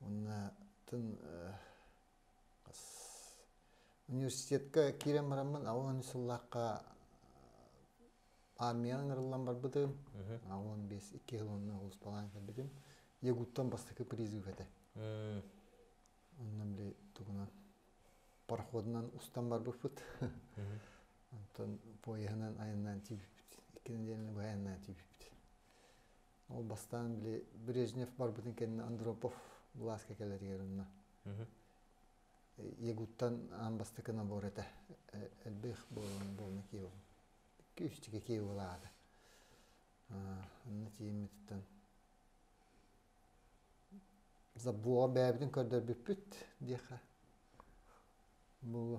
Уонна тын университетка киирэн бараммын алын сыллаахха армияҕа ыҥырыллан барбытым. Алын бес икки хил онна улуспалаан кэлбитим. Ягуттан бастакы призыв этэ. Онно били тугунан пароходунан устан барбыппыт. Онтон поеһынан айаннаан тиийбиппит. Икки нэдиэлэни быһа айаннаан тиийбиппит. Ол бастаан били Брежнев барбытын кэннэ Андропов былааска кэлэригэр онно. Ягуттан аан бастакы набор этэ. Элбэх буолан буолна киев. Күүстігі киевалаата. Анна тиеммититтен забуға бәбідін көрдөрбүппүт диэхэ. Бұл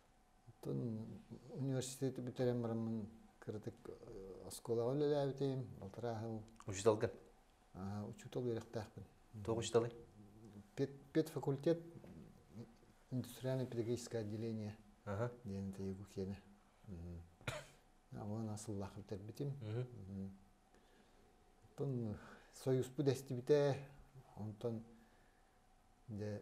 Оттон университеты бүтэрэн бараммын кыратык оскуолаҕа үлэлээбитим, балтараа сыл Учууталгын? учуутал үөрэхтээхпин. Тоҕо учууталый? Педфакультет индустриально-педагогическое отделение диэн тайгу киэнэ. Уонна сыллаах бүтэрбитим. Оттон союзпут эстибитэ, онтон дьэ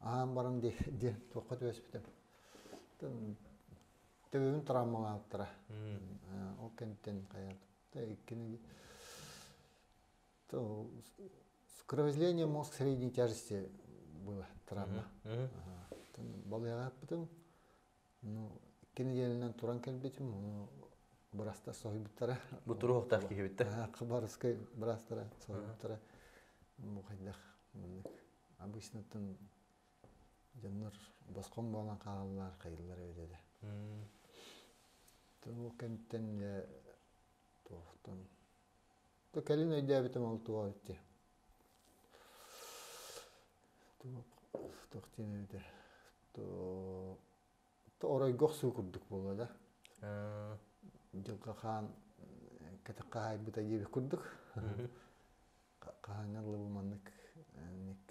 аһаан баран диэн туохха түбэспитим тыгын травмалаабыттара ол кэнниттэн хайа иккини кровоизление мозг средней тяжести была травма балыйааппытым ну иккини диэнинэн туран кэлбитим ону бырастар соһуйбуттара бутуруохтаах киһибиттэ хабарыскай бырастара соһуйбуттара бу хайдах Обычнотун дьоннор босхом буолан хаалаллар, хайыллар өйдө да. Ол кэмтэн дьэ туохтан бу кэлин өйдөөбүтүм ол туох эти. Туох диэн эбитэ то оройгох суу курдук буолуо да. Дьылҕа хаан кэтэх хаһаайбыта диэбит курдук. хаһааҥҥар лыбы маннык ник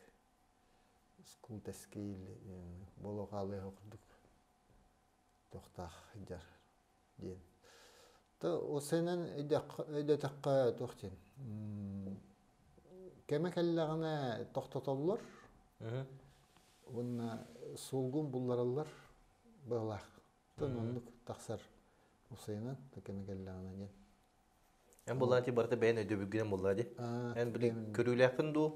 скултэскейл боло хаалыах курдук тохтаах дьар диэн то осенен өйдөтөххө туох диэн кэмэ кэллэҕинэ тохтотоллор уонна сулгун буллараллар быалаах тон оннук тахсар усайынан кэмэ кэллэҕинэ диэн Эн буллаҕа ти барыта бэйэн өйдөбүлгүнэн буллаҕа ди. Эн били көрүүлээххин дуу,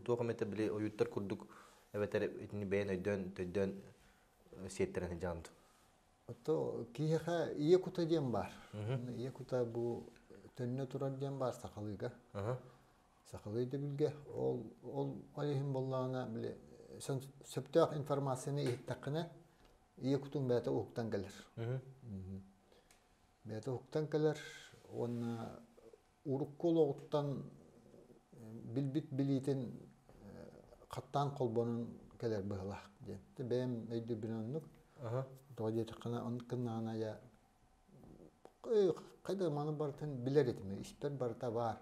туох эмэте били ойууттар курдук эбэтэр итини бэйэн өйдөөн, төйдөөн сиэттэрэн сылдьаҕын дуу? Ото киһиэхэ ийэ кута диэн баар. Ийэ кута бу төннө турар диэн баар сахалыыга. Сахалыы өйдөбүлгэ ол ол иһин буоллаҕына били сөптөөх информацияны иһиттэххинэ ийэ кутуҥ бэйэтэ уһуктан кэлэр. бэйэтэ уһуктан кэлэр уонна урукку олоҕуттан билбит билиитин хаттаан холбонон кэлэр быһылаах диэн. Бэйэм өйдүүрбүнэн оннук. Тоҕо диэтэххинэ, оннуккыннаана хайда маны барытын билэр этим, испэр барыта баар.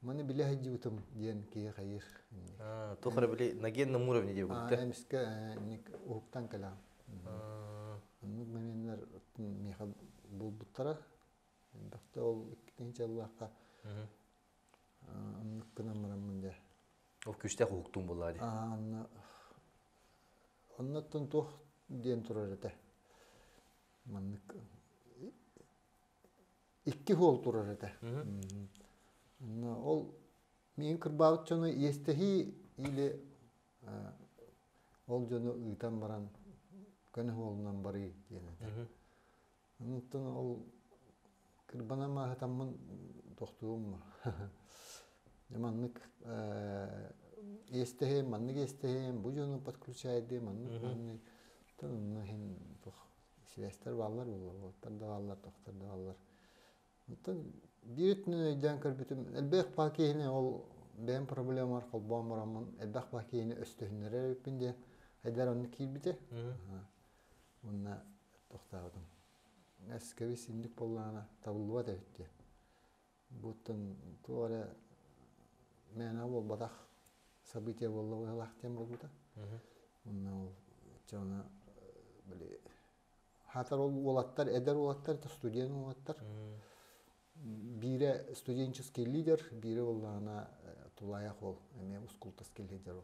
Маны билэ сылдьыбытым диэн киһи хайыыр. Туох эрэ били нагенном уровне диэ булта. Аа, эмискэ инник уһуктан кэлэҕин. Оннук моментнар миэхэ булбуттара. Элбэхтэ ол иккитинчи аллаахха оннук гынан бараммын дэ. Ол күстээх уһуктуум буолла дии. Аа, онно оннуттан туох диэн турар этэ. Маннык икки уол турар этэ ол миин кырбаабыт дьону иэстэһии или ол дьону ыытан баран көнө уолунан барыы диэн этэ онтон ол кырбана мааһытаммын тохтуумма маннык иэстэһиэм маннык иэстэһиэм бу дьону подключайдыы маннык маннык онно иһин силэстэр бааллар буолла уоттар да бааллар тохтор да бааллар оттон биир өттүнэн өйдөөн көрбүтүм элбэх баа киһини ол бэйэм проблемабар холбоон бараммын элбэх баа киһини өстөһүннэрэр эбиппин диэн айдар онно киирбитэ уонна тохтообутум эскэбис инник буоллаҕына табыллыбат эбит диэн Буттан туох эрэ мээнэ буолбатах событие буолла быһыылаах диэн буолбута. Онно ол чэ аны били аһатар ол уолаттар, эдэр уолаттар, это студент уолаттар. Биирэ студенческий лидер, биирэ буоллаҕына тулаайах уол эмиэ ускултас келлидер ол.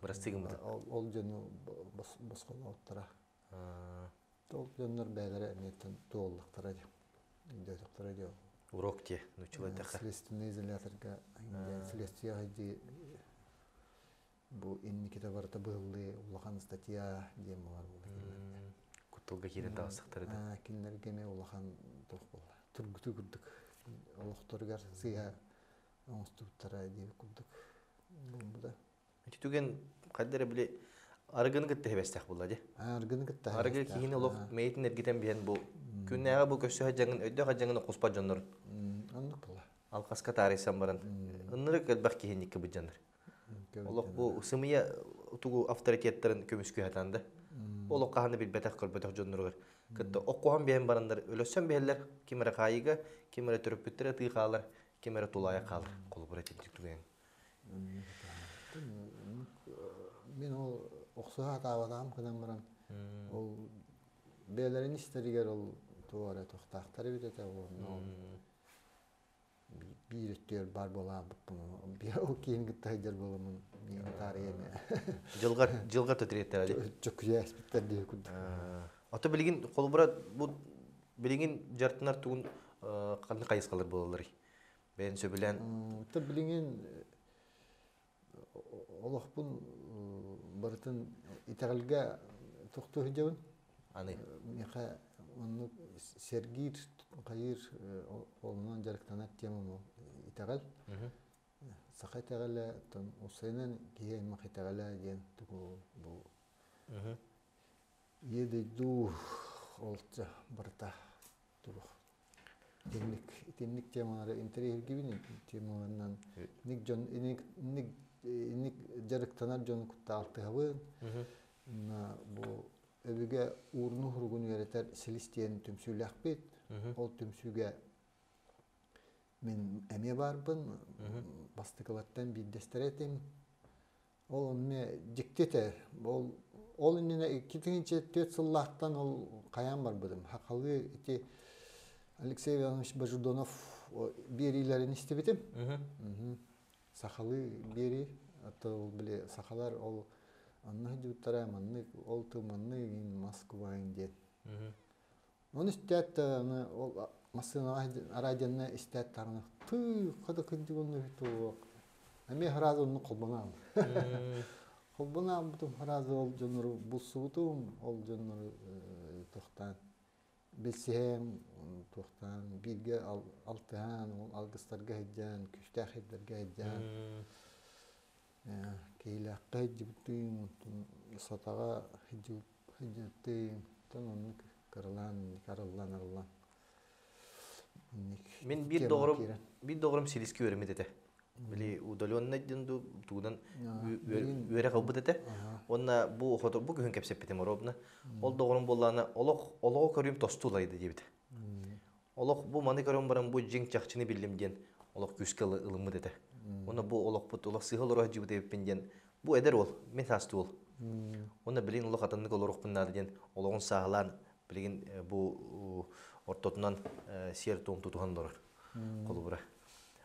Бырастыы гыммытыт. Ол дьону босхолооттара. Ол дьоннор бэйэлэрэ эмиэтин туоллахтара дии. Өйдөөтөхтөрө дии. Урок дии. Нуччулайдахха. Следственный изоляторга следствие хайдыы бу инникитэ барыта быһыллыы улахан статья диэн буолар буолла. Кутталга киирэн таҕыстахтары да. Кинилэргэ эмиэ улахан туох буолла. Тургуту курдук олохторугар сыыһа оҥостубуттара диэбит курдук буолбута. Ити түгэн хайда эрэ били арыгыны кытта тэбэстэх була дии. Арыгыны кытта Арыгы киһини олох мэйитин эргитэн биһэн бу күннээҕи бу көрсө садьаҥын өйдөөх садьаҥын хоспот дьоннор. Оннук була. Алқасқа таарыйсан баран. Ынырык элбэх киһинникке быдьаныр. Олох бу сымыйа тугу авторитеттарын көмүскү хатанды. Олох хаһаны билбэтэх көрбөтөх дьонноругар. Кытта оққоһон бэйэн барандар өлөссөн бэһэллер ким эрэ хаайыга, ким эрэ төрөппүттер атыы хаалар, ким эрэ тулаайах хаалар холобур этимтик тугайан мин ол охсуһа атаабатаҕым гынан баран ол бэйэлэрин истэригэр ол туох эрэ тохтаахтар эбит этэ уонна биир өттүгэр баар буолаабыппын ол киин кытта сылдьар буоламмын миэхтаарыйа эмэ дьылҕар дьылҕар тэтириэттэр али чөкүйээспиттэр диэки курдук ото билигин холобура бу Билиҥин дьартынар тугун ханны хайысхалар буолалларый? Бэйэн сөбүлээн. Та билиҥин олохпун барытын итэҕэлгэ тохту сылдьабын. Аны миэхэ оннук сэргиир, хайыыр олунан дьарыктанар тема мол итэҕэл. Саха итэҕэлэ тон усайынан киһи аймах итэҕэлэ диэн тугу бу Ийэ дойду олдьа барыта турух. Итинник, итинник темалары интэриэһиргибин темаларынан инник дьон инник инник инник дьарыктанар дьон куттаах алтыһабын. Бу өбүгэ уурну уругун үөрэтэр силис диэн түмсүүлэхпит. Ол түмсүүгэ мен эмиэ барбын бастыкылаттан биирдэстэрэ этим. Ол онно дьикти этэ. Ол ол иннинэ икки тыһыынча түөрт сыллаахтан ол хайаан барбытым. Хахалы ити Алексей Иванович Бождонов биэриилэрин истибитим. Сахалыы биэрии. Ото ол били сахалар ол анна дьууттара маннык ол тыманны Москваин диэн. Оны истээт даҕаны ол массыынаҕа араадьанна истээт даҕаны тыыха да кырдьыгынна эбит уок. Эмиэ сразу онну холбонаан. Холбон ааммытым сразу ол дьоннору булсубутум, ол дьоннору тохтаан билсиһэм, туохтаан бииргэ алтыһаан, ол алгыстарга сылдьаан, күстээх сирдэргэ сылдьаан киһилээххэ сылдьыбыттыын сатаҕа сылдьыбыттыын оннук кырылаан арыллан мин биир доҕорум биир доҕорум силискэ үөрэммит этэ били удаленнай диэн дуу тугунан үөрэ ылбыт этэ уонна бу охото бу күһүн кэпсэппитим оруобуна ол доҕорум буоллаҕына олох олоҕу көрүүм тосту улайда диэбитэ Олох бу маны көрөн баран бу дьиҥ чахчыны биллим диэн олох күүскэ ылыммыт этэ. Уонна бу олохпут олох сыһы олоро сылдьыбыт эбиппин диэн бу эдэр уол, мин саастыы уол. Уонна билигин олох атыннык олоруохпун наада диэн олоҕун сааһылаан билигин э, бу ортотунан э, сиэр-туом тутуһан олорор холобура.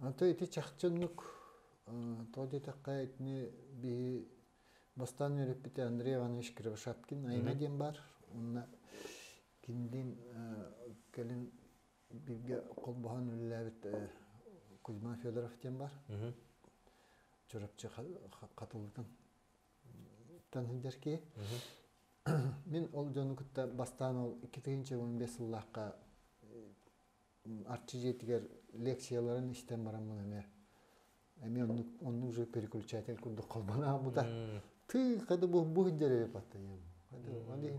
Аты ити чахчы оннук тоҕо диэтэххэ итини биһи бастаан үөрэппит Андрей Иванович Кривошапкин айна диэн баар уонна кинилин кэлин бииргэ холбоһон үлэлээбит Кузьма Федоров диэн бар Чурапчы Хатылытын сылдьар киһи мин ол дьону кытта бастаан ол икки тыһыынча уон биэс сыллаахха Арчы дьиэтигэр лекцияларын истэн бараммын эмиэ эмиэ оннук онно уже переключатель курдук холбоно хаалбыта. Тыыха да бу бу сылдьар эрэ паттайым. Аны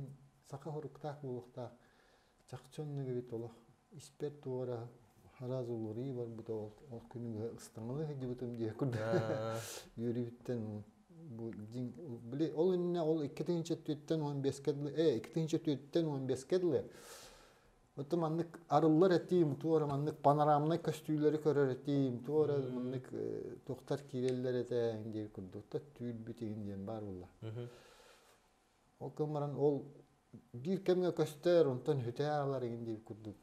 саха соруктаах буолуохтаах. Чахчы оннук эбит олох. Испэр туора араас уларыы барбыта ол ол күнү быһа ыстаҥалыы сылдьыбытым дии курдук. Үөрүүбүттэн бу дьиҥ били ол иннинэ ол икки тыһыынча төрттэн уон биэскэ дылы ээ икки тыһыынча төрттэн уон биэскэ дылы Оту маннык арыллар этиим, туора маннык панорамнай көстүүлэри көрөр этиим, туора маннык тухтар киирэллэр этэ диир курдук да түүрбүтигин диэн баар буолла. Ол кым баран ол биир кэмҥэ көстөр, онтон хүтээ араларыгын диир курдук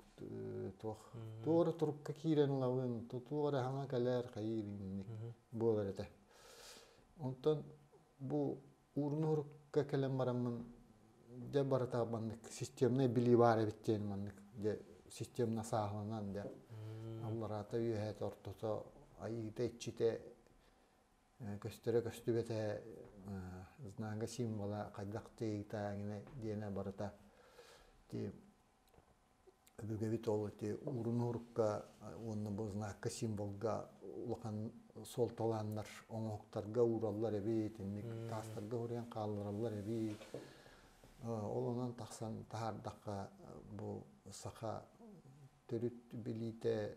туох туора турукка киирэн ылабын, туора хаҥа кэлэр хайыыр инник буолар этэ. Онтон бу уурунуһурукка кэлэн бараммын дьэ барыта маннык системнай билии баар эбит диэн маннык дьэ системно сааһыланан дьэ аллараата үөһэт ортото айыыта иччитэ көстөрө көстүбэтэ знака символа хайдах тыыта диэнэ барыта ти Өбүгэбит ол ити уурунуурукка уонна бу знакка символга улахан суолталааннар оҥоһуктарга уураллар эбит, инник таастарга уруйан хааллараллар эбит. Ол онон тахсан таһаардахха бу саха төрүт билиитэ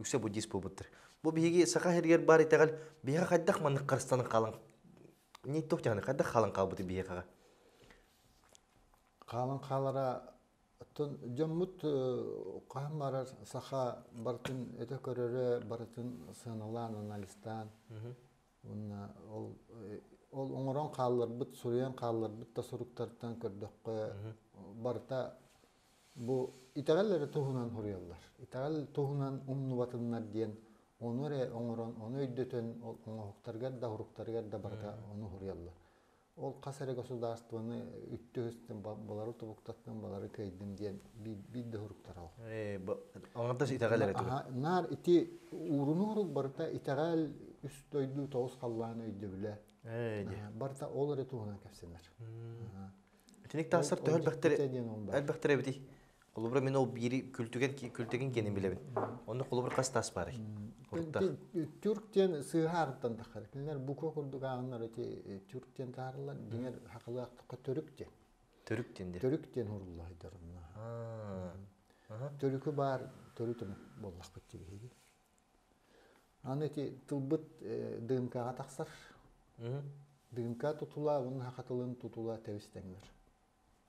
үксэ буддист буолбуттар бу биһиги саха сиригэр баар итэҕэл биһиэхэ хайдах маннык харыстанан хаалан не тух дьаһаны хайдах хаалан хаалбыт биһиэхэҕэ хаалан хаалара оттон дьоммут хаһан барар саха барытын өтө көрөрө барытын сыаналаан анализтаан уонна ол ол оҥорон хаалларбыт суруйан хаалларбыт да суруктартан көрдөххө барыта бу итэҕэл эрэ туһунан суруйаллар итэҕэл туһунан умнубатыннар диэн ону эрэ оҥорон ону өйдөтөн оҥоһуктарыгар да уруктарыгар да барыта ону суруйаллар Ол хас эрэ государствоны үттү үстэн балары тобуктаттан балары кыйдым диэн биир да уруктара ол. Оҥордос итэҕэл эрэ Наар ити уурун урук барыта итэҕэл үс дойду тоҕус халлаан өйдөбүлэ. Барыта ол эрэ туһунан кэпсэнэр. Итиник тахсар төһө элбэхтэрэ элбэхтэрэ эбитий? Холобура мин ол биири күлтүгэн күлтүгэн киэнин билэбин. Онно холобур хас тас барай? Түрк диэн сыыһаарыттан таххар. Кинилэр буква курдук ааҕыннар эти түрк диэн таарылар. Диҥэр хахылаахтыкка төрүк диэн. Төрүк диэн дир. Төрүк диэн уруллайдар онно. Төрүкү баар төрүт омук боллахпыт тибиһиги. Аны эти тылбыт дыымкаҕа тахсар. Дыымка тутула, уһун хахатылын тутула тэбистеңлер.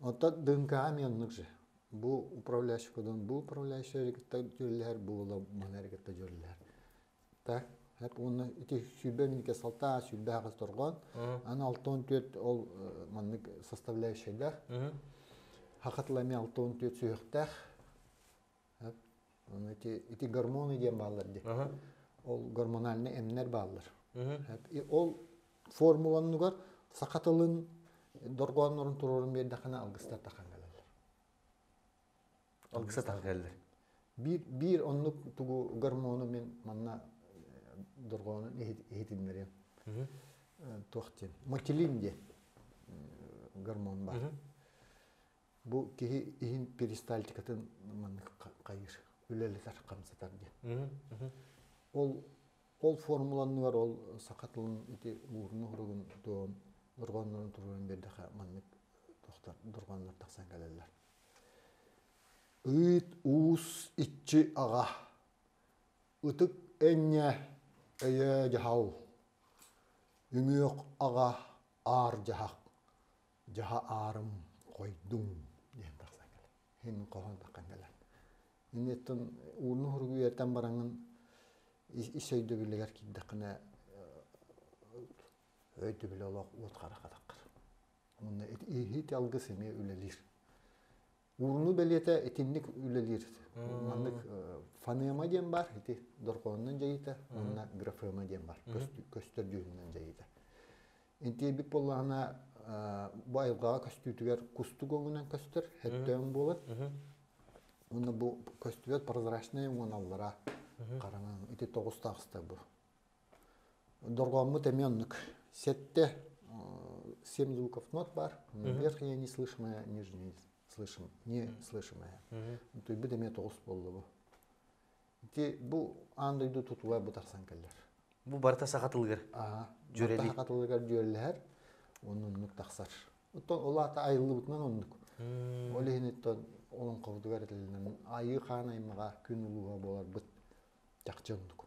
Оттон ДНК-ҕа эмиэ оннук же. Бу управляющий кодун бу управляющай эрэ кытта дьүөрэлэһэр, бу уола маны эрэ кытта дьүөрэлэһэр. Так, хеп уонна ити сүүрбэ мүнүүтэ салтаа, сүүрбэ аҕыс торгон, аны алта он түөрт ол маннык составляющайдаах. Хакатыла эмиэ алта он түөрт сүһөхтээх. ити, ити гормоны диэн бааллар дии. Ол гормональнай эмнэр бааллар. Ол формуланнугар саха тылын дорҕооннорун туруорун биэрдэххинэ алгыстар тахан кэлэллэр. Алгыса тахан кэлэллэр. Биир, биир оннук тугу гормону мен манна дорҕоонун иһитиннэриэм. Туох диэн? Мотилин диэн гормон бар. бу киһи иһин перистальтикатын маннык хайыр үлэлэтэр хамсатар диэн ол ол формуланнылар ол саха тылын ити уурун уругун туон дорҕоннорун туруорун бердеха маннык тохтор дорҕоннор тахсан кэлеллер ыйт уус иччи аға ытык энне өйө дьаһал үҥүөх аға аар дьаһах дьаһа аарым хойдуҥ диэн тахсан кэлэн һин хоһон таххан кэлэн инниттэн ууну хургуйартан бараҥын ис өйдөбүлүгэр киирдэххинэ өйдөбүлэ олох уот хара хатаххар онно иһит алгыс эмиэ үлэлиир Ууну бэлиэтэ итинник үлэлиир. Маннык фонема диэн бар ити дорҕоонунан дьайыта уонна графема диэн бар көстөр дьүһүнүнэн дьайыта. Интиэбит буоллаҕына бу айылҕаҕа көстүүтүгэр кустук өҥүнэн көстөр хэттөөн буолар. Уонна бу көстүбэт прозрачнай уҥаналлара хараҥа ити тоҕус таҕыста бу Доргооммут эмиэ оннук. Сетте семь звуков нот бар, верхнее не слышимое, нижнее слышим, не слышимое. Туйбут эмиэ тоҕус буолла бу. Ити бу аан дойду тутула бу тахсан кэллэр. Бу барыта саха тылыгар дьүөрэлий. Саха тылыгар дьүөрэлэһэр, оннук тахсар. Оттон ол аата айыллыбытынан оннук. Ол иһиниттэн олоҥхобутугар этилинэн айыы хаан аймаҕа күн улууга буоларбыт чахчы оннук.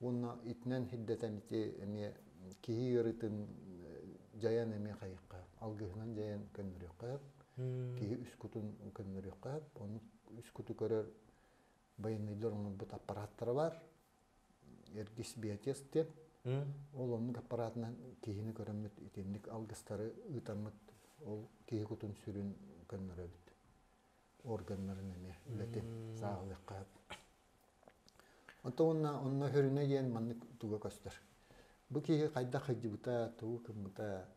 Уонна итинэн хирдэтэн ити эмиэ киһи ыарыытын дьайан эмиэ хайыхха алгыһынан дьайан көннөрүөххэ киһи үс кутун көннөрүөххэ ону үс куту көрөр байыныылар оҥорбут аппараттара бар эргис биотес диэн ол оннук аппаратынан киһини көрөммүт итинник алгыстары ыытаммыт ол киһи кутун сүрүн көннөрөбүт органнарын эмиэ үлэтин сааһылыахха сөп. Онтон уонна онно хөрүнэ диэн маннык туга көстөр. Бу киһи хайдах хыдьыбыта, тугу кыммыта,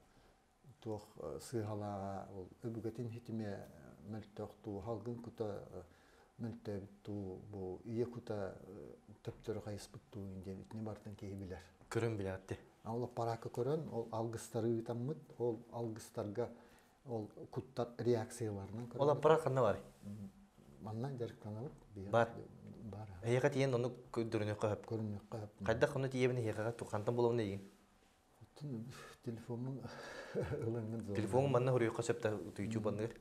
туох э, сыыһалааҕа, ол өбүгэтин хитимэ мөлтөх туу, халгын кута э, мөлтөөбүт туу, бу ийэ кута э, төптөрө хайыспыт туу диэн итини бартан киһи билэр. Көрөн билээти. Ол параакка көрөн, ол алгыстары ыытаммыт, ол алгыстарга ол куттар реакцияларынан көрөбүт. Олан бара ханна бар? Манна дьарыктанабыт. Бар. Бар. Эйиэхэ тиийэн ону көрүнүөххэ хөп. Көрүнүөххэ хөп. Хайдах ону тиийэбин эһиэхэҕэ хантан булабын эйигин? Оттон телефоммун ылаҥҥын зона. Телефоҥҥун манна хоруйуохха сөптө утуйчупанныыр.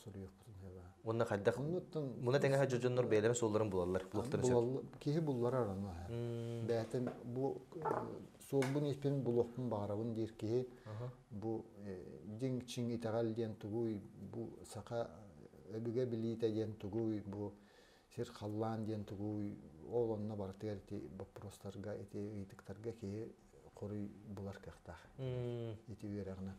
Соруйуохпутун хеба. Онно хайдах Оннуттан муна тэҥэһэ дьоннор бэйэлэрин суолларын булаллар, булуохтарын сөп. Киһи булларар ону. Бээтин бу суолбун-испин булуохпун баҕарабын диир киһи бу дьиҥ чиҥ итэҕэл диэн тугуй бу саха өбүгэ билиитэ диэн тугуй бу сир халлаан диэн тугуй ол онно барытыгар ити боппуруостарга ити ыйытыктарга киһи хоруй булар кыахтаах ити үөрэҕинэн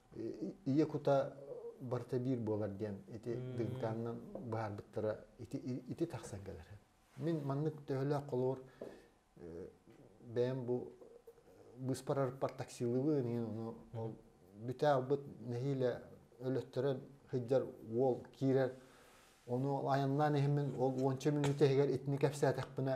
ийэ кута барыта биир буолар диэн ити дыгынкаанынан быһаарбыттара ити, ити тахсан кэлэр. Мин маннык төһөлөөх холобур бэйэм бу быыспарарыппар таксилыбын иһин ону ол бүтээгбыт нэһиилэ өлөттөрө сылдьар уол киирэр ону айаннаан иһимин ол уонча мүнүүтэ иһигэр итини кэпсээтэхпинэ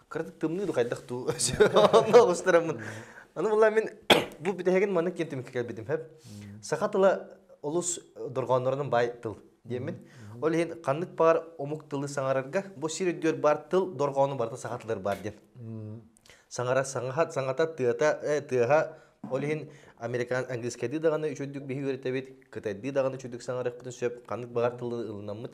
кыратык тымныы да хайдах дуу онно устураммын аны булла мин бу бүтэһигин маннык киэн түмүккэ келбитим хөп саха тыла олус дорҕооннорунан бай тыл диэммин ол иһин ханнык баар омук тылы саҥарарга бу сир өйдүөр баар тыл дорҕоону барыта саха тылар баар диэн саҥара саҥаха саҥата тыата э, тыаха ол иһин американ английскайдыы даҕаны үчүгдүк биһи үөрэтэбит кытайдыы даҕаны үчүгдүк саҥарыахпытын сөп ханнык баҕар тылы ылынаммыт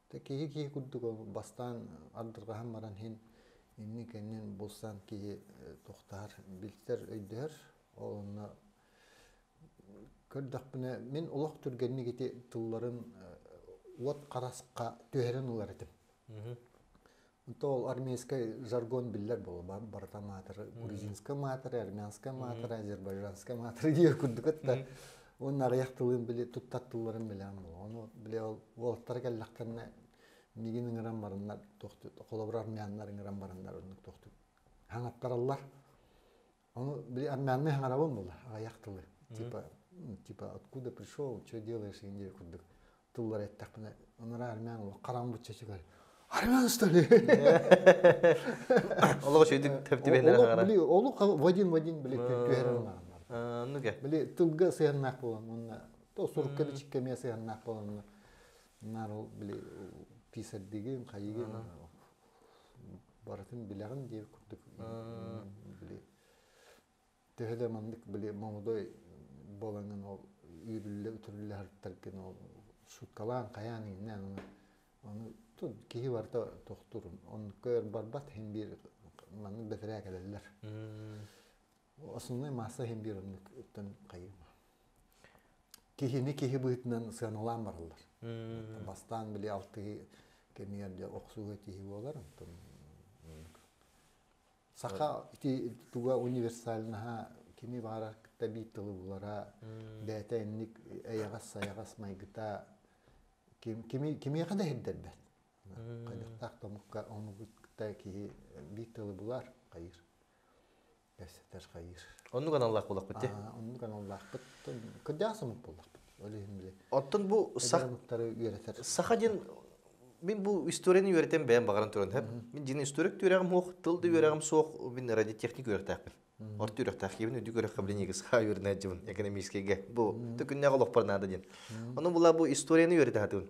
киһи киһи курдук бастаан ардырҕаһан баран иһин иннин кэннин булсан киһи тохтоһор билсэр өйдөһөр онно көрдөхпүнэ мин олох түргэнник ити тылларын уот харасха түһэрэн ылар этим то ол армейскай жаргон биллэр буолуо барыта маатыры грузинскай маатыры армянскай маатыры азербайжанскай маатыры диир курдук атта уонна аҕыйах тылын били туттар тылларын билээн буолуо ону били ол уолаттара кэллэхтэринэ мигин ыҥыран бараннар тохту холобур армяннар ыҥыран бараннар оннук тохтук хаҥаттараллар Оно, манны хаҥарабын була, аҕыйах тылы. Типа, типа, откуда пришел, что делаешь индия курдук тыллар эттэхпинэ, онора армян ол харамбыт чачыгар армян стали. Олох шөйдүк тэптибелер хаҕара. Били, олох вадин вадин били түһэрин мааралар. Нуге. Били тылга сыяннак болан, онна то сурукка бичиккемия сыяннак болан, нар ол били писардигин, хайыгын, барытын билэҕин диир курдук били төһө да маннык били молодой буолаҥын ол үүрүллэ үтүрүллэ сарыттаргын ол шуткалаан хайаан иҥнээн аны аны тут киһи барыта тохтурун онко өр барбат һин биир маннык бэтэрээ кэлэллэр Основной масса иһин биир оннуктан хайым. Киһини киһи быһыытынан сыаналаан бараллар. Бастаан били алтыһы кэмигэр де охсууга тиһи буолар онтон саха ити туга универсальнаха кини баара кытта биир тылы булара бээтэ инник эйаҕас сайаҕас майгыта ким кими кимиэхэ да иһирдэрбэт хайдахтаах томукка омугут кытта киһи биир тылы булар хайыр Оннук аналлаах буоллахпыт тий? Оннук аналлаахпыт. Кырдьаҕас омут буоллахпыт. Ол иһин били. Оттон бу саха диэн мин бу историяны үөрэтэн бэйэм баҕаран туран һэп. Мин дин историк түөрэҕим хуох, тыл да үөрэҕим суох, мин радиотехник үөрэхтээхпин. Орто үөрэхтээхкибин үрдүк үөрэххэбилиниге саха үөрэнээччибин экономическийге бу төкүннээх олохпор наада диэн. Ону була бу историяны үөрэтэ хатыбын.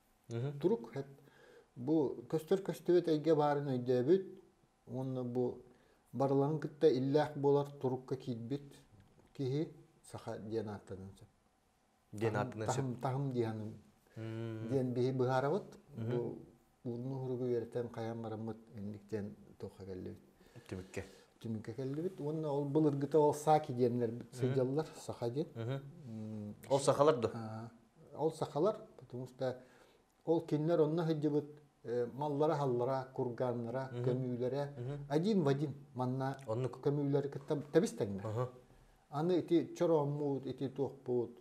Турук бу көстөр көстүбэт эйгэ баарын өйдөөбүт уонна бу барыларын кытта иллээх буолар турукка киирбит киһи саха диэн ааттаныан сөп. Диэн ааттаныан сөп. Таһым диэһаным диэн биһи быһаарабыт. Бу уурну уһуругу үөрэтэн хайан бараммыт инниктен туохха келлебит. Түмүкке. Түмүкке келлебит. Уонна ол былыргыта ол саки диэнлер сыдьаллар саха диэн. Ол сахалар да? ол сахалар, потому что ол кинилэр онно сылдьыбыт маллара-халлара, курганнара, көмүүлэрэ один в один манна көмүүлэри кытта тэбистэннэ. Аны ити чорооммут, ити туохпут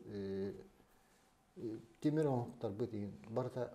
тимир оҥоттарбыт барыта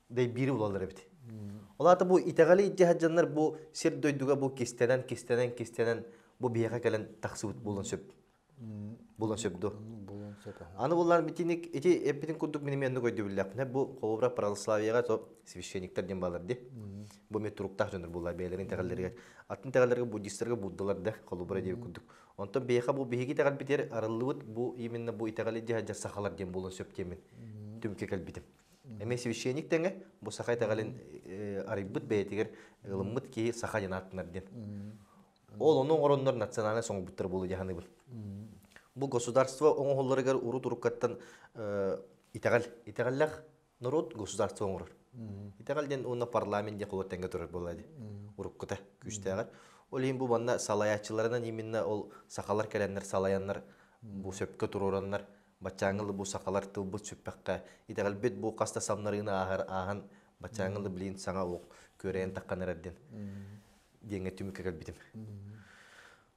биири булалар эбит ол аата бу итэҕэли дьаһадьаннар бу сир дойдуга бу кистэнэн кистэнэн кистэнэн бу биһиэхэ кэлэн тахсыбыт буолан сөп булан сөп ду аны буллар битиник ити эппитин курдук мин эмиэнник өйдөбүллэхпинэ бу холобура православияга то священниктар диэн баалар ди бу мен туруктаах дьоннор буллар бэйэлэрин тэҕэллэригэр атын тэҕэллэргэ буддистарга буддалар да холобура диэбит курдук онтон биһиэхэ бу биһиги тэҕэл битэр арыллыбыт бу именно бу итэҕэли дьаһадьар сахалар диэн буолан сөп диэмин түмүккэ кэлбитим Эмэ священник тэҥэ, бу саха итэҕэлин арыйбыт бэйэтигэр ылыммыт киһи саха диэн ааттанар диэн. Ол ону оҥороннор национальнай соҥурбуттар буолу дьаһаныбын. Бу государство оҥоһулларыгар урут-уруккаттан итэҕэл, итэҕэллэх норуот государство оҥорор. Итэҕэл диэн уонна парламент диэх олор тэҥҥэ турар буолла ди. Уруккута күүстээҕэр. Ол иһин бу манна салайааччыларынан именно ол сахалар кэлэннэр салаяннар бу сөпкө туруораннар Баччааҥҥы лы бу сахалар тылбыт сүппэххэ, итэҕэлбит бу хас да самнарыыны ааһар ааһан, баччааҥҥы лы блин саҥа уох күөрэйэн таххан эрэрдин диэҥҥэ түмүккэ кэлбитим.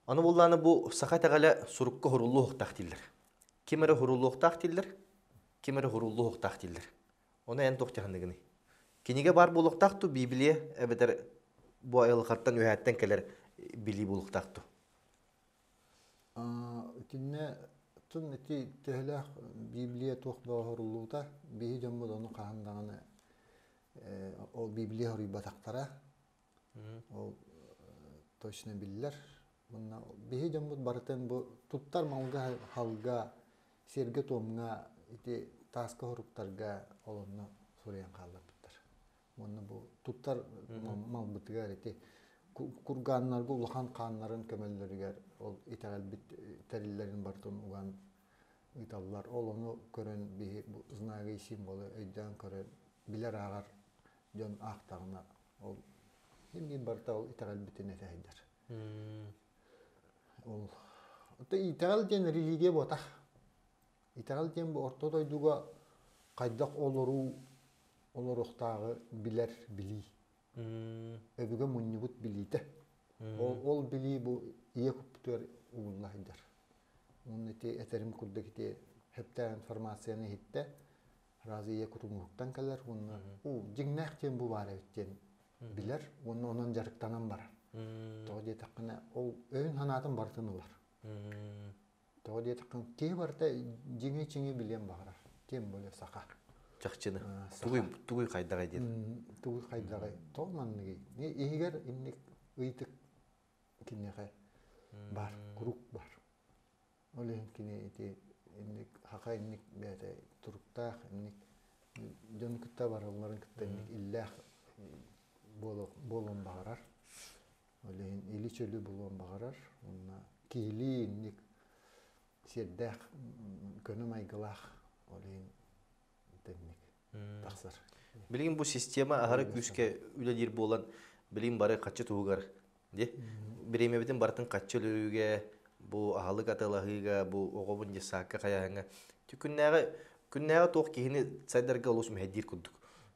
Аны буллааны бу саха итэҕэлэ сурукка хоруллуохтаах дииллэр. Ким эрэ хоруллуохтаах дииллэр, ким эрэ хоруллуохтаах дииллэр. Оны эн тоқтиханыгыный? Киниге бар булуқтақты Библия әбетер бу айлықаттан өһәттен келер били булуқтақты. Итиннэ тыл ити төһөлөөх Библия туох бооһоруллуута биһи дьоммут ону хаһан даҕаны ол Библия хоруйбатахтара. Ол точно биллэр. Мунна биһи дьоммут барытын бу туттар малга халга, сиргэ-туомга ити тааска хоруктарга олонно суруйан хаалларбыттар. уонна бу туттар малбытыгар ити кургааннарга улахан хааннарын көмөллөрүгэр ол итэҕэлбит тэриллэрин бартын уган ыыталлар ол ону көрөн биһи знагый символы өйдөөн көрөн билэр ааҕар дьон аахтаҕына ол эмиэ барыта ол итэҕэлбитин этэһэйдэр ол итэҕэл диэн религия буота Итэҕэл диэн бу орто дойдуга хайдах олоруу олоруохтааҕы билэр билии. Өбүгэ мунньубут билиитэ. Ол, ол билии бу ийэ куттугар угунна сылдьар. Уонна ити этэрим курдук ити хептаа информацияны иһиттэ раз ийэ кутуҥуһуттан кэлэр уонна уу дьиҥнээх диэн бу баар эбит диэн билэр уонна онон дьарыктанан барар. Тоҕо диэтэххинэ ол өйүн санаатын барытын ылар. Тоҕо диэтэххэ, киһи барыта дьиҥи-чиҥи билиэн баҕарар. Тем более саха. Чахчыны. Тугуй, тугуй хайдаҕай диэн. Тугуй хайдаҕай. Тоҕо манныгый. Иһигэр инник ыйытык киниэхэ баар, курук баар. Ол иһин кини ити инник хаха инник бэйэтэ туруктаах инник дьон кытта баралларын кытта инник иллээх буолуон баҕарар. Ол иһин или-чөлү булуон баҕарар. Уонна киһилии инник сиэрдээх, көнө-майгылаах ол иһин тэнник тахсар. Билигин бу система аһары күүскэ үлэлиир буолан, билигин бары хаччы туһугар бириэмэбитин барытын хаччы өлөрүүгэ, бу аһылык аталаһыыга, бу оҕобун детсадка хайаһыҥа күннээҕи күннээҕи туох киһини сайдарга олус мэһэйдиир курдук.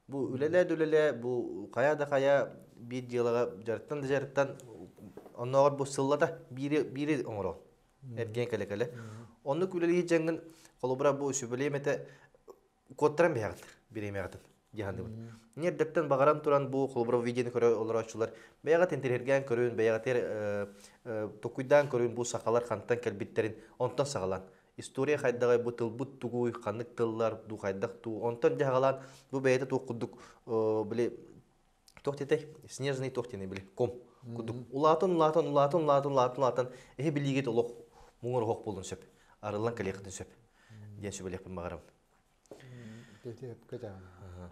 бу үлэлээ-үлэлээ бу хайа да хайа биир дьыалаҕа дьарыктан да дьарыктан оннооҕор бу сыллата биири биири оҥоро эргиэн кэлэ кэлэ оннук үлэлии дьаҥгын холобура бу сүбэлиэмэтэ куоттаран биһэҕит бириэмэҕитин дьаһаныбын нердертен баҕаран туран бу холобура видеоны көрө олорооччулар бэйэҕит интириһиргээн көрүн бэйэҕитигэр э, э, токуйдаан көрүн бу сахалар хантан кэлбиттэрин онтон саҕалаан история хайдаҕай бу тылбыт тугуй ханнык тыллар дуу хайдах дуу онтон дьаһагалаан бу бэйэтэ туох курдук били туох диэтэй снежный туох диэни били ком курдук улаатан улаатан улаатан улаатан улаатан улаатан эһи билиигит олох муҥар оһох буолун сөп арыллан кэлиэхитин сөп диэн сөбүлэхпин баҕарабын Дьэ сөпкө даҕаны.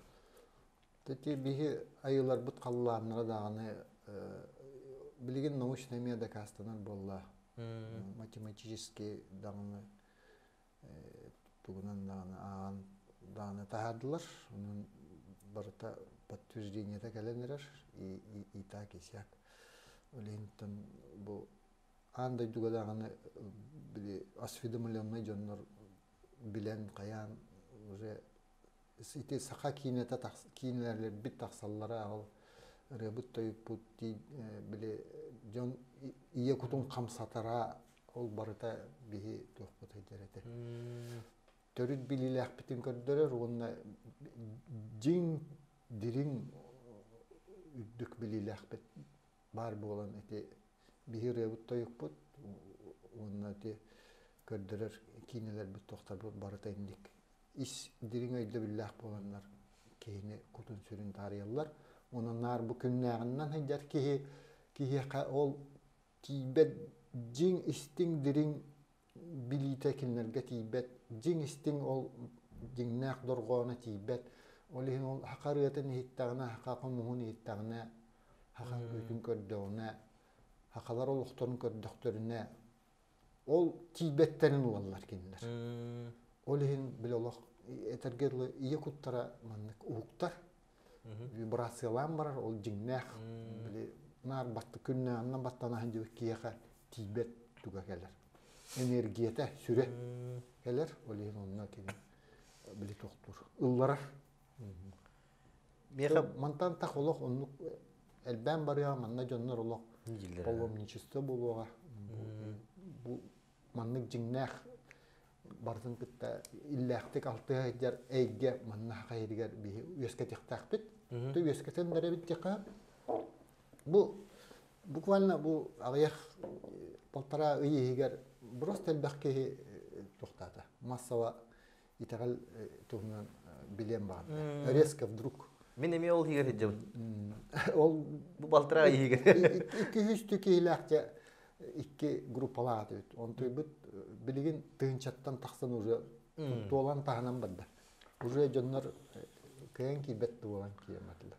Тати биһи айыларбыт халлааннара даҕаны билигин научнай эмиэ дакаастанар буолла. Математический даҕаны тугунан даҕаны ааҕан даҕаны таһаардылар. Онон барыта подтверждениета кэлэн эрэр и так и сяк. Олеһинтэн бу аан дойдуга даҕаны били осведомленнай дьоннор билэн хайаан уже ити саха киинэтэ тахс киинэлэрбит тахсаллара ол ырыабыт тойукпут дии били дьон ийэ кутун хамсатара ол барыта биһи туохпут өйдөр этэ төрүт билиилээхпитин көрдөрөр уонна дьиҥ дириҥ үрдүк билиилээхпит баар буолан ити биһи ырыабыт тойукпут уонна ити көрдөрөр киинэлэрбит тохторбут барыта инник ис дириҥ өйдөбүллээх буоланнар киһини кутун-сүрүн таарыйаллар онон наар бу күннээҕиннэн сылдьар киһи киһиэхэ ол тиийбэт дьиҥ истиҥ дириҥ билиитэ кинилэргэ тиийбэт, дьиҥ истиҥ ол дьиҥнээх дорҕооно тиийбэт. Ол иһин ол саха ырыатын иһиттэҕинэ, саха хомуһун иһиттэҕинэ, саха ырыатын көрдөҕүнэ, сахалар олохторун көрдөхтөрүнэ, ол тиийбэттэрин уоллар кинилэр. Ол иһин били олох этэргэ дылы ийэ куттара маннык уһуктар. вибрациялаан барар ол дьиҥнээх били наар батта күннээнна баттана сылдьыбыт киһиэхэ тиийбэт туга кэлэр энергията сүрэ кэлэр ол иһин онно кини били тохтуур ылларар мантан так олох оннук элбээн барыа манна дьоннор олох поломничество буолуоҕа бу маннык дьиҥнээх барытын кытта иллээхтик алтыа сылдьар эйгэ манна хайыгар биһи үөскэтиэхтээхпит. Ты үөскэтэн бэрэбит дьиха. Бу буквально бу аҕыйах полтора ый иһигэр просто элбэх киһи э, тухтата массава итэҕэл туһунан билиэн баҕарда. Резко вдруг. Мин эмиэ ол иһигэр сылдьабын. Ол бу балтыраа иһигэр. Икки-үстүү киһилээхчэ икки группалаах үт. Онтуйбут билигин тыынчаттан тахсан уже туолан таһынан барда. Уже дьоннор кыйан киирбэт буолан киирмэтилэр.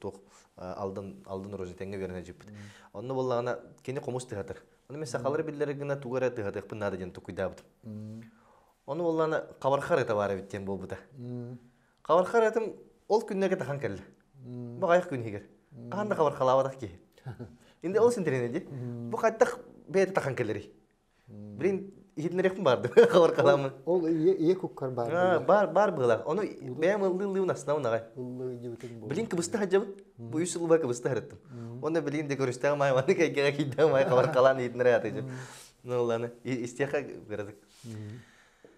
туох алдан алдан розетеҥҥа үөрэнэ илдьиппит онно буоллаҕына кини хомус тыһатар ону мен сахалары биллэрэ гына тугу эрэ тыһатыахпын наада диэн тукуйдаабытым ону буоллаҕына хабархар ырыта баар эбит диэн буолбута хабархар ырытым ол күннэргэ тахан кэллэ баҕайах күн иһигэр хаһан да хабархалаабатах киһи инде ол синтэринэ ди бу хайдах бэйэтэ тахан кэлэрий Блин, иһитиннэриэхпин баардым хабар халаммын. Ол ийэ ийэ куккар баар. Бар бар была. Ону бэйэм ыллыылыыбын астына унаҕай. Ыллыыдьыбытын бу. Блин кыбыста хадьабыт. Бу үс сылба кыбыста харыттым. Оны билин де көрүстэҕим ай маны кайгара кийдэҕим ай хабар халаан иһитиннэри атыйдым. Ну ладно, истиэхэ градык.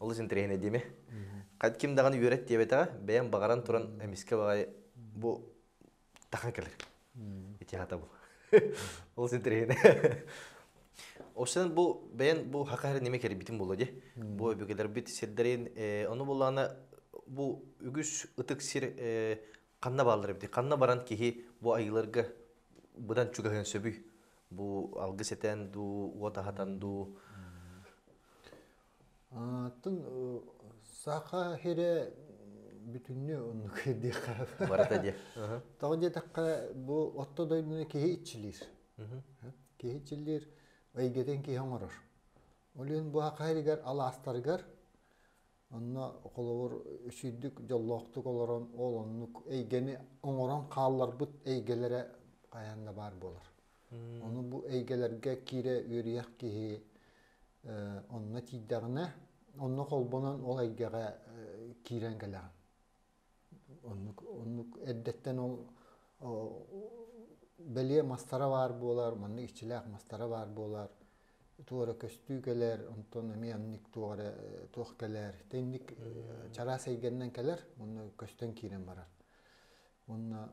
олус интэриэһинэй диэми ким даҕаны үөрэт диэбэтэҕэ бэйэм баҕаран туран эмискэ баҕай бу тахан кэлэр итиэхата бу олус интэриэһинэй Осынан бу бэйэн бу хака хэр неме кербитим було де бу өбүгэлербит сирдерин ону булана бу үгүс ытык сир канна бааллар бити канна баран киһи бу айыларга быдан чугаһын сөбүй бу алгыс этен ду уот ахатан ду Атын Саха сирэ бүтүннүү оннук диэххэ. Барыта диэ. Тоҕо диэтэххэ, бу орто дойдуну киһи иччилиир. Киһи иччилиир, эйгэтин киһи оҥорор. Ол иһин бу саха сиригэр алаастарыгар онно холобур үчүйдүк дьоллоохтук олорон ол оннук эйгэни оҥорон хаалларбыт эйгэлэрэ хайаан да баар буолар. Ону бу эйгэлэргэ киирэ үөрүйэх киһи онно тиийдэҕинэ, онно холбонон ол эйгэҕэ киирэн кэлэҕин. Оннук, оннук эрдэттэн ол бэлиэ мастара баар буолар, манна иччилээх мастара баар буолар, туора көстүү кэлэр, онтон эмиэ аннык туох эрэ туох кэлэр, итинник чараас эйгэннэн кэлэр, онно көстөн киирэн барар. уонна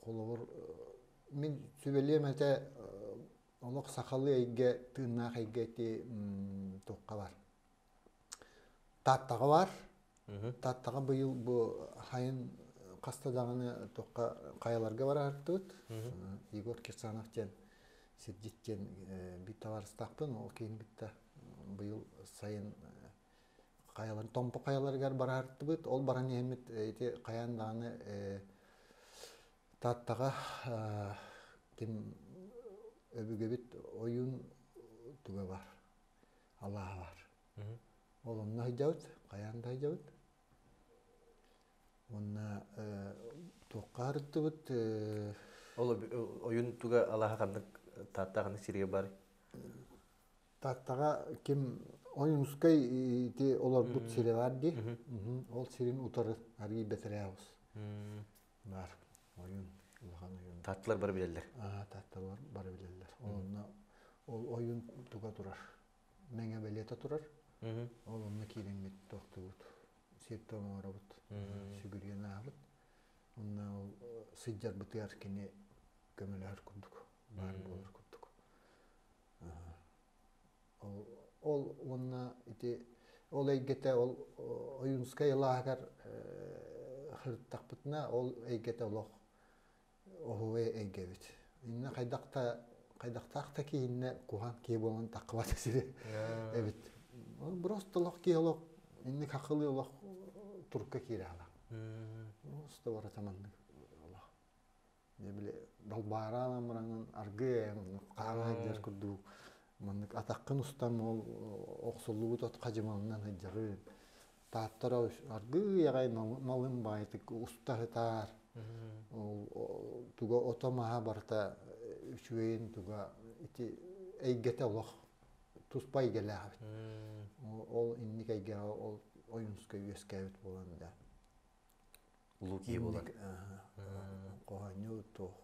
холобур мин сүбэлиэм этэ олох сахалыы эйгэ тыыннаах эйгэ ити тухха бар тааттаҕа бар тааттаҕа быйыл бу хайын хаста даҕаны тухха хайаларга бараартыбыт егор кирсанов диэн сирдьит диэн бит табаарыстаахпын ол кейін битта быйыл сайын хайаларын Томпо хайаларыгар бараартыбыт. Ол баран иһэммит ити хайаан даҕаны Тааттаҕа ким өбүгэбит ойуун туга бар алааһа бар. Ол онно сылдьабыт, хайаан да сылдьабыт. Онно туохха харыттыбыт? Ол ойуун туга алааһа ханнык Таатта ханнык сиргэ бар? Таттаҕа ким Ойуунускай ити олорбут сирэ баар дии. Ол сирин утары арыый бэтэрээбус баар ойуун улахан ойуун. Таттылар бары билэллэр. Аа татталар бары билэллэр. Онно ол ойуун туга турар. Мэҥэ бэлиэтэ турар. Ол онно киирэммит тохтубут. Сиртэ оҥоробут. Сүгүрүйэн аабыт. Онно ол сыдьарбытыгар кини көмөлөһөр курдук. Баар буолар курдук. Ол уонна ити ол эйгэтэ ол Ойуунускай ылааһыгар сырыттахпытына ол эйгэтэ олох оһуой эйгэ эбит. Инна хайдах да хайдахтаах да киһиннэ куһан киһи буолан тахкыбат сири эбит. Ол просто олох киһи олох инник хакылы олох турка киире ала. Просто бара таманнык олох. били далбаараан амыраҥын аргыый айан хаана сылдьар курдук маннык атаххын устан ол охсуллубут от хадьымалынан сылдьарын тааттара аргыый аҕай малын баайтык уста сытаар туга ото маһа барыта үчүгэйин туга ити эйгэтэ олох туспа эйгэлээх эбит ол инник эйгэҕэ ол ойунска үөскээбит буолан да Луки булан. Хоһонньу туох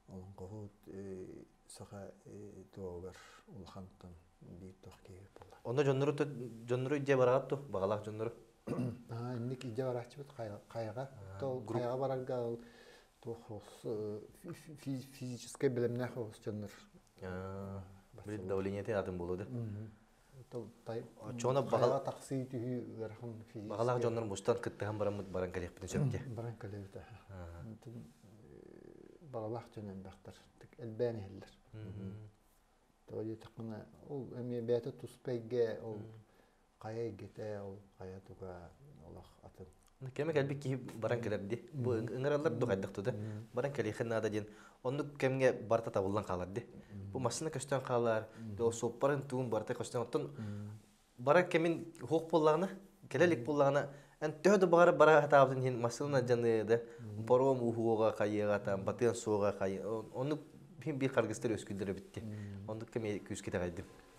олонгоһут саха туогар улахантан биир тох киһи була. Онно дьоннору дьоннору идде бараат ту бағалах дьоннору. Аа, инник идде барааччыбыт хайга хайга барарга туох физическай білімнэх ос дьоннор. Давление те атын болады. баҕалаах тахсыы түһүү ыарахан баҕалаах дьоннор мустан кыттыһан бараммыт баран кэлиэхпитин сөп дии баран кэлэбит баҕалаах дьон элбэхтэр элбээн иһэллэр тоҕо диэтэххинэ ол эмиэ бэйэтэ туспа эйгэ ол хайа эйгэтэ ол хайа туга олох атын кэме кэлби киһи баран кэлер ди бу ыңыралар ду хайдах туда баран кэлиэхин наада диэн оннук кэмге барта табыллан хаалар ди бу массына көстөн хаалар ол суоппарын туун барта көстөн оттон баран кэмин хуох буллагына кэлелик буллагына эн төһө да баҕар бара хатаабытын иһин массына дьаны да пором ухуога хайыга там батыан суога хай оннук биир харгыстар өскүлдөрө битти оннук кэме күүскэ тагайдым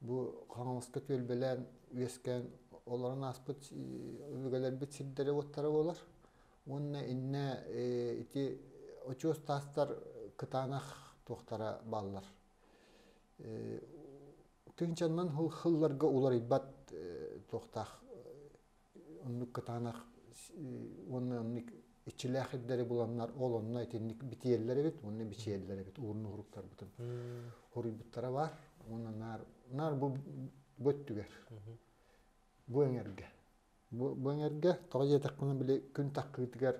Бу Хаҥаласка түөлбэлээн үөскээн олорон ааспыт өбүгэлэрбит сирдэрэ-уоттара буолар. Уонна иннэ ити очуос таастар кытаанах туохтара бааллар. Тыынчаннан хылларга уларыйбат туохтаах оннук кытаанах уонна оннук иччилээх ирдэри буланнар ол онно итинник битиэллэр эбит уонна бичиэллэр эбит уурун уһуруктарбытын хоруйбуттара бар уонна наар наар бу бу өттүгэр бу эҥэргэ бу бу эҥэргэ тоҕо диэтэхпинэ били күн таххыытыгар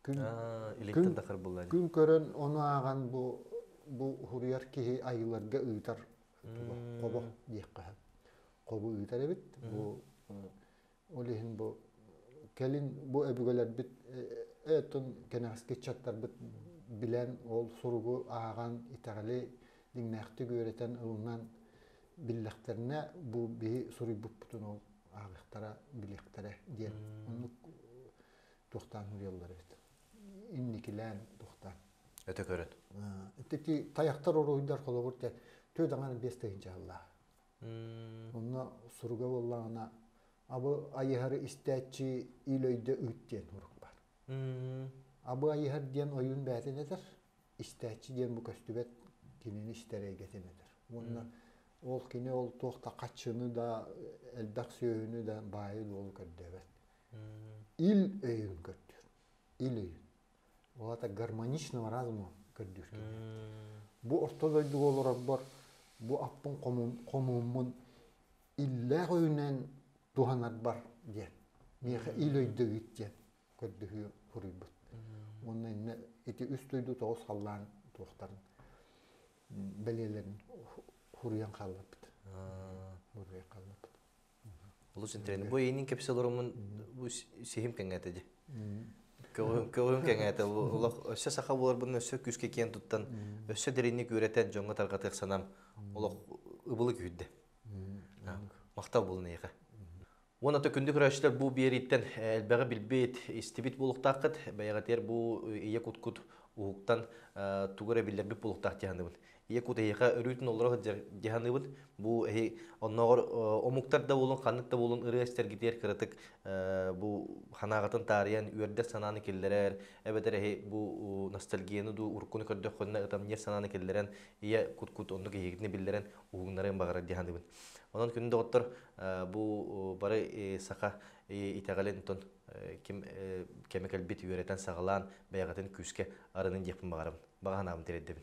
күн күн күн көрөн ону ааҕан бу бу уһуруйар киһи айыларга ыытар хобо диэххэ хобу ыытар эбит. Бу ол иһин бу кэлин бу өбүгэлэрбит өттүн кэнэҕэски ыччаттарбыт билэн ол суругу ааҕан итэҕэли дьиҥнээхтик үөрэтэн ылынан биллэхтэринэ бу биһи суруйбуппутун ол ааҕыахтара билиэхтэрэ диэн оннук туохтаан суруйаллар эбит инникилээн туохтаан өтө көрөн ити таяктар оруйдар холобур те түө даҥар биэс тыһынча Онно суруга буоллаҕына абы айыһары истээччи ил өйдө ыт диэн урук бар. Абы айыһар диэн ойуун бээтин этэр, истээччи диэн бу көстүбэт кинини истэр эйгэтин этэр. Уонна ол кини ол туох да хаччыны да элбэх сүөһүнү да баайы дуолу көрдөөбөт. Ил өйүн көрдүүр. Ил өйүн. Ол аата гармоничного разума көрдүүркэ. Бу орто дойдуга олорорбор бу аппын хомууммун иллээх өйүнэн туһанарбар диэн миэхэ ил өйдөбүт диэн көрдөһүү суруйбут. Уонна иннэ ити үс дойду тоҕус халлаан туохтарын бэлиэлэрин хуруйан хаалларбыт. Буруйа хаалларбыт. Олус интэриэһинэй. Бу эйиэнин кэпсэл орумун бу сehим кэҥээтэ ди. Көҕүм кэҥээтэ. Олох өссө саха буоларбын өссө күүскэ киэн туттан, өссө дэринник үөрэтэн дьоҥҥо тарҕатыах санам олох ыбылы күүрдэ. Махтал булун эйиэхэ. Уон ата күндү көрөөччүлэр бу биэрииттэн элбэҕи билбит, истибит буолуктааххыт, бэйэҕитигэр бу ийэ куткут уһуктан тугу эрэ биллэрбит буолуктаах диһандыбын. Ийэ кутейха өрүүтүн олоро сылдьар дьаһаныыбыт. Бу эһи оннооҕор омуктар да буолун, ханнык да буолун ырыа эстэргитигэр кыратык бу ханааҕытын таарыйан үөрдэр санааны киллэрэр, эбэтэр эһи бу ностальгияны дуу, уруккуну көрдөххүнэ ытамньыар санааны киллэрэн ийэ кут-кут оннук эһигитини биллэрэн уһугуннарыан баҕарар дьаһаныыбын. Онон күн доҕоттор бу бары саха итэҕэлин тон ким кэмэ кэлбит үөрэтэн саҕалаан бэйэҕитин күүскэ арынын диэхпин баҕарабын. Баҕа санаабын тирэйдэбин.